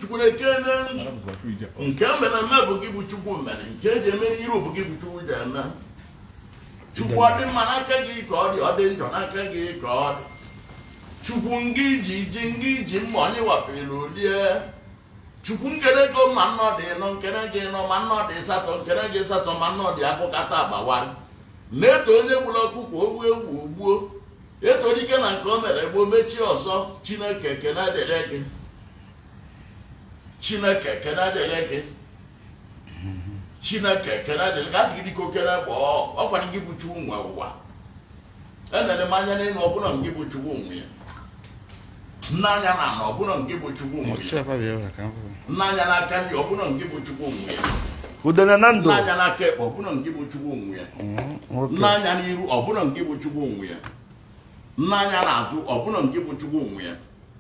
chukwu ekene nke mere eme bụ gị bụ chukwu mere nke eji eme n'iru bụ gị bụ chukwu ji eme chukwu ọ dị mma n'aka gị ka ọ dị ọ dị njọ n'aka gị ka ọ dị chukwu ngị ji ji ngị ji mma onye wapụrụ o lie chukwu nkene gị ma nnọ dị nọ nkene gị nọ ma nnọ dị satọ nkene gị satọ ma nnọ dị akụkata agbawara na-eto onye gburu ọkụkọ o gbuo ewu o gbuo eto dike na nke o mere gboo o mechie ọzọ chineke ekene dịrị gị chineke ekene dịrị gị chineke ekene dịrị gị asị gị dịka okene bụ ọkwa gị bụ chukwu nwe ụwa enere m anya n'elu ọ bụnụ ngị bụ chukwu nwe ya m nee anya n'ana ọ bụnụ ngị bụ chukwu nwe ya m nee anya n'aka nri ọ bụnụ ngị bụ chukwu nwe ya m nee anya n'aka ekpe ọ bụnụ ngị bụ chukwu nwe ya m nee anya n'iru ọ bụnụ ngị bụ chukwu nwe ya m nee anya n'azụ ọ bụnụ ngị bụ chukwu nwe ya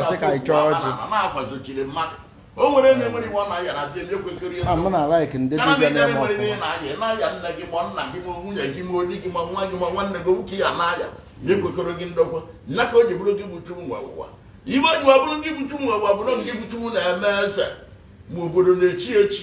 asị ka anyị chọọ ọjị na-akwazochiri mmadụ o nwere onye nwere ibe ọ na-aya na abịa ekwekọrọ i'm not like ndị kana m dibịa edere na-eme nwere ihe ọfụma na-aya ị na-aya nne gị ma nna gị ma nwunye gị ma ọ di gị ma nwa gị ma nwanne gị nwoke ya na-aya na ekwekọrọ gị ndokwa nya ka o ji bụrụ gị bụ chukwu nwe ụwa ibe ji ọ bụrụ gị bụ chukwu nwe ụwa bụrụ gị bụ chukwu na-eme eze ma obodo na-echi echi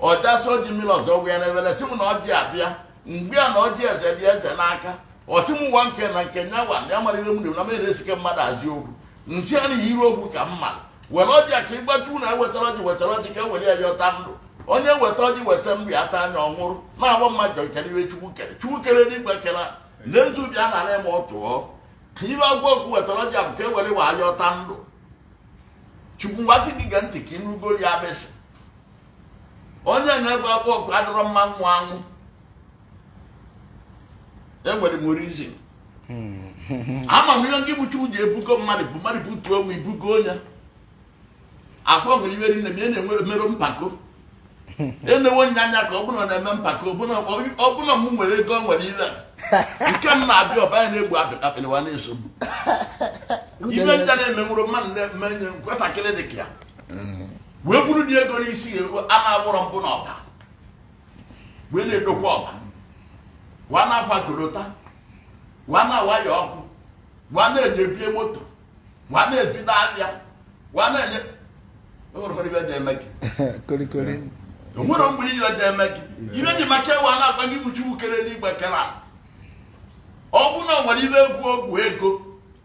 ọchasị ọjị mmiri ọzọ wee na-ebere sị m na ọjị abịa m gwa ya na ọjị eze dị eze n'aka ọ sị m nwa nke na nke nyawa na ya mara ihe m dị na m eresike mmadụ ajị okwu m sị ya n'ihi iru okwu ka mma were ọjị a ka ịgbachu na ewetara ọjị wetara ọjị ka e were ya yọta ndụ onye weta ọjị weta nri ata anya ọ nwụrụ na-agba mmadụ kere ibe chukwu kere chukwu kere n'igwe kere na nzu bịa na na ma ọ tụọ ka ibe agwa okwu wetara ọjị a bụ ka e were wa yọta ndụ chukwu ngwasị gị gee ntị ka ịnụgolu ya abịsị onye na-egbe akwa ọkụ adịrọ mma nwụ anwụ enwere m reason ama m ihe ngị bụ chukwu ji ebugo mmadụ bụ mmadụ butuo onwe i bugo onye afụ nwere ibe rinne mana emerọ mpako enewo nya anya ka ọbụna na-eme mpako ọ bụ na m nwere ego nwere ibe nke m na-abịa ọba ya na-egbu apịlịwa na-eso m ibe nta na-emenwụrụ mmadụ na-eme nwatakịrị dị ka ya wee buru ụdị ego n'isi ya eruo a na-agbụrọ mbụ n'ọba wee na-edokwa ọba wa na-akwa korota wa na-awaya ọkụ wa na-enye bie moto wa na-ebido ahịa wa na-enye o nwere ụfọdụ ibe dị eme gị korikori o nwere mgbe ị ga-eje eme gị ibe ji maka e wee na-agwa gị bụ chukwu kere n'igwe kere ala. ọ bụrụ na o nwere ibe bụ ọgwụ ego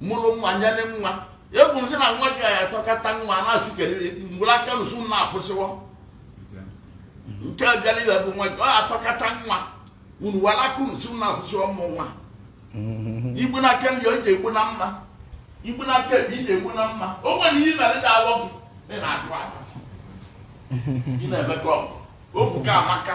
mụrụ nwa nyere nwa egwu m sị na nwa gị ya atọkata nwa na-asị kedebe mgbere aka nụsụ m na-akwụsịwọ nke bịara ibe bụ nwa gị ọ atọkata nwa unu wara aka nụsụ m na-akwụsịwọ mụ nwa igbu na aka nri ọ ji egbu na mma igbu na aka ekpe ị na-egbu na mma o nwere ihe mere dị awọ gị ị na-atụ aka ị na-emekọ ọgụ okwu ka amaka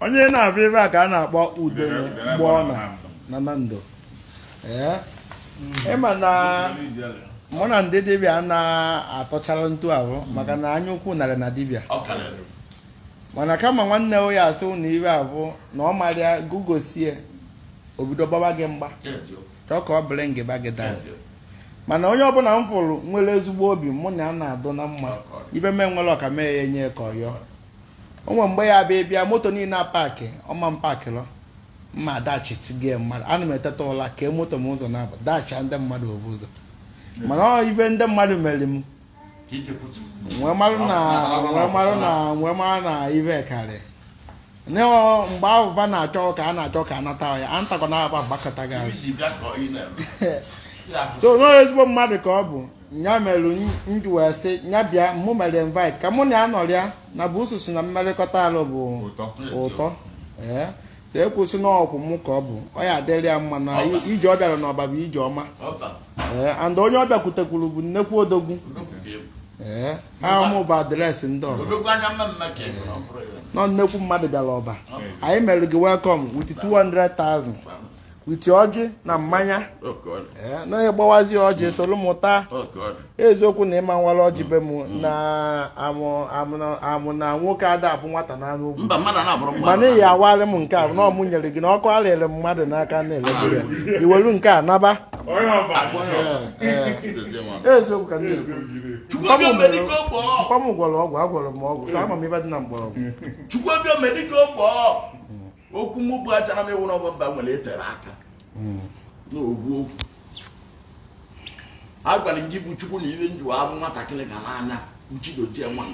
onye na-abịa ebe a ka a na-akpọ ude mgbe ọ nọ na ndụ ee ịma na mụ na ndị dibịa na-atọchara ntu ahụ maka na anya ukwu narị na dibịa Ọ karịrị. mana kama nwanne ya asị ụnụ ive abụna ọ marịa gị gosie o bido gbaba gị mgba Ya dị o. chọọ ka ọ bụrụ ngịba gị Ya daa dị o. mana onye ọbụla m fụrụ nwere ezigbo obi mụ na ya na-adụ na mma ive m nwere ọ ka m ya-enye ya ka ọ yọọ o nwe mgbe ya bịa bịa moto niile a paakị ọma m paakịrọ mma dachi tigie mmadụ ana m eteta ụla kee moto m ụzọ na-abụ dachi ndị mmadụ obu ụzọ mana ọ ife ndị mmadụ mere m wee mara na ive karị ne mgbe ahụ va na-achọ ka a na-achọ ka a nata ya a ntakwa na-aba gbakụta gị azụ so n'onye ezigbo mmadụ ka ọ bụ nya mere m ji wee sị nya bịa mụ mere invite ka mụ na ya nọrịa na bụ usu si na mmerịkọta alụ bụ Ụtọ. ụtọ ee so ekwusị na ọkwụ mụ ka ọ bụ ọ ya-adịrị ya mma na Ọba. ije ọ bịara n'ọba bụ ije ọma ọba ee and onye ọ bịakwutekwuru bụ nnekwu odogwu odogwu ka ị bụ ee aha mụ bụ adreesị ndị ọba odogwu anya mma mma ka ị bụ na ọ bụrụ ya nọ nnekwu mmadụ bịara ọba Ọba. anyị mere gị welcome with 200,000 with ọjị na mmanya eh, na onye gbawazi ọjị mm. soro mụ taa eziokwu na ị ma-awara ọjị be m mm. na amụ na nwoke ada abụ nwata na anụ ugwu mana ị ya-awara m nke a na ọ mụ nyere gị na ọkụ arịrị mmadụ n'aka na-elebu ya i welu nke a naba eziokwu ka mkpa m gwọrọ ọgwụ agwọrọ m ọgwụ sa ama m ive dị na mgbọrọgwụ okwu m bụ aja na ịwụrụ ọgbamba nwere etere aka hmm. n'ogbu okwu a gwara gị bụ chukwu na ive njiwa abụ nwatakịrị gara anya uchidozie nwa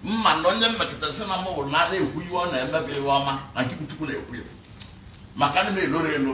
mma na onye mmekọta si na mụrụ na ana ekwu iwe ọ na-emebe ive ọma na gị bụ chukwu na-ekwu ya maka na m eloro elu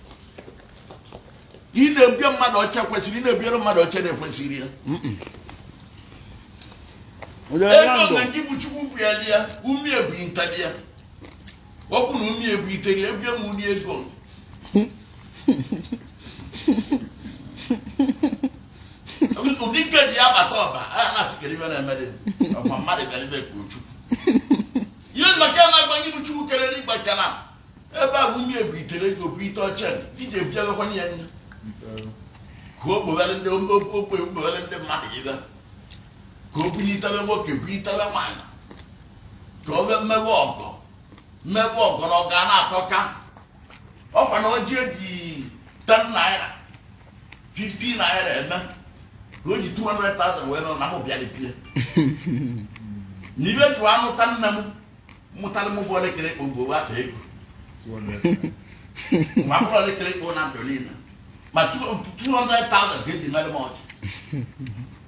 ị na-ebie mmadụ ọcha kwesịrị ị na-ebiere mmadụ ọcha na-ekwesịrị ya ego na ndị bụ chukwu bịara ya umie bụ ntali ya ọkwụ na umie bụ iteri ebie m ụdị ego ụdị nke ji ya bata ọba a na-asịkere ibe na-emere ọkwa mmadụ bịara ibe ka chukwu ihe nnọkọ na-agba ndị bụ chukwu kelere ịgbachara ebe a bụ ebe e bitere ego bụ ite ọcha iji ebiagakwana ya nne ka o kpogharị ndị ogbe kpogharị ndị mmadụ ịga ka o bunyitara nwoke bunyitara nwaanyị ka ọ bịa mewe ọgọ mewe ọgọ na ọ ga na-atọka ọkwa na o ji eji 10 naira 15 naira eme ka o ji 200,000 wee nọ na m bịara bie na ibe jụ anụta nne m mụtara mụ bụ elekere kpo bụ afọ ego ma bụrụ elekere kpo na ndụ niile ma 200,000 ka eji mere m ọchị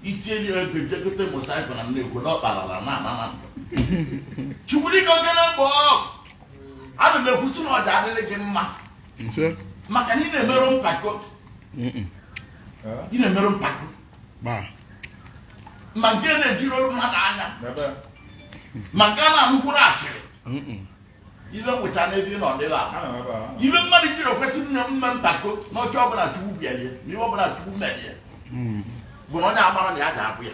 itinye nye ego jegote mosaịkụ na nne ekwo na ọkparala na ana na ndụ chukwurike okele mgbe ọ a na m ekwusi na ọ ga-adịrị gị mma maka na ị na-emerọ mpako ị na-emerọ mpako ma nke na-ejiri olu mmadụ anya ma nke a na-ekwurọ asịrị ibe nweta n'ebe ị nọ dịghị ahụ ihe mmadụ jiri okwetị nne mme mpako n'oche ọbụla chukwu bịalie na ihe ọbụla chukwu merie bụ na onye amara na ya ga-abụ ya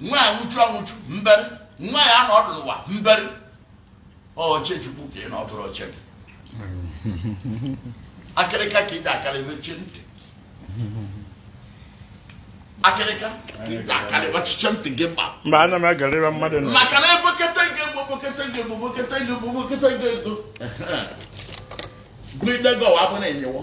nwa ya nwụchu anwụchu mbere nwa ya nọdụ n'ụwa mbere oche chukwu ka ị nọ ọ bụrọ oche gị akịrịka ka ị ga-akarị mechie ntị akịrịka ka ị ga-akarị mechie ntị gị gba mba ana m agarịra mmadụ nọ maka na ebokete gị ego gụidego wa bụ na enyewo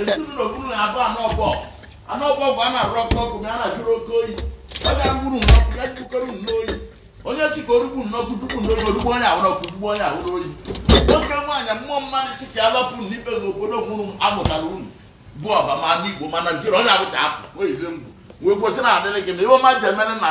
ezinụlọ bụrụ na abụ anọ ọgbọ anọ ọgbọ bụ a na-arụ ọkụ ọkụ ma a na-ajụrụ oke oyi ọ ga-agburu n'ọkụ ya jikọrọ n'oyi onye si ka o rugbu n'ọkụ dugbu n'oyi o rugbu onye ahụ n'ọkụ dugbu onye ahụ n'oyi nwoke nwaanyị mmụọ mmadụ si ka ya lapụ n'ibe n'obodo mụrụ m amụtara unu bụ ọba ma n'igbo ma naịjirịa onye abụcha apụ wee yie mgbu wee kwesịrị adịrị gị na ihe ọma ji emere na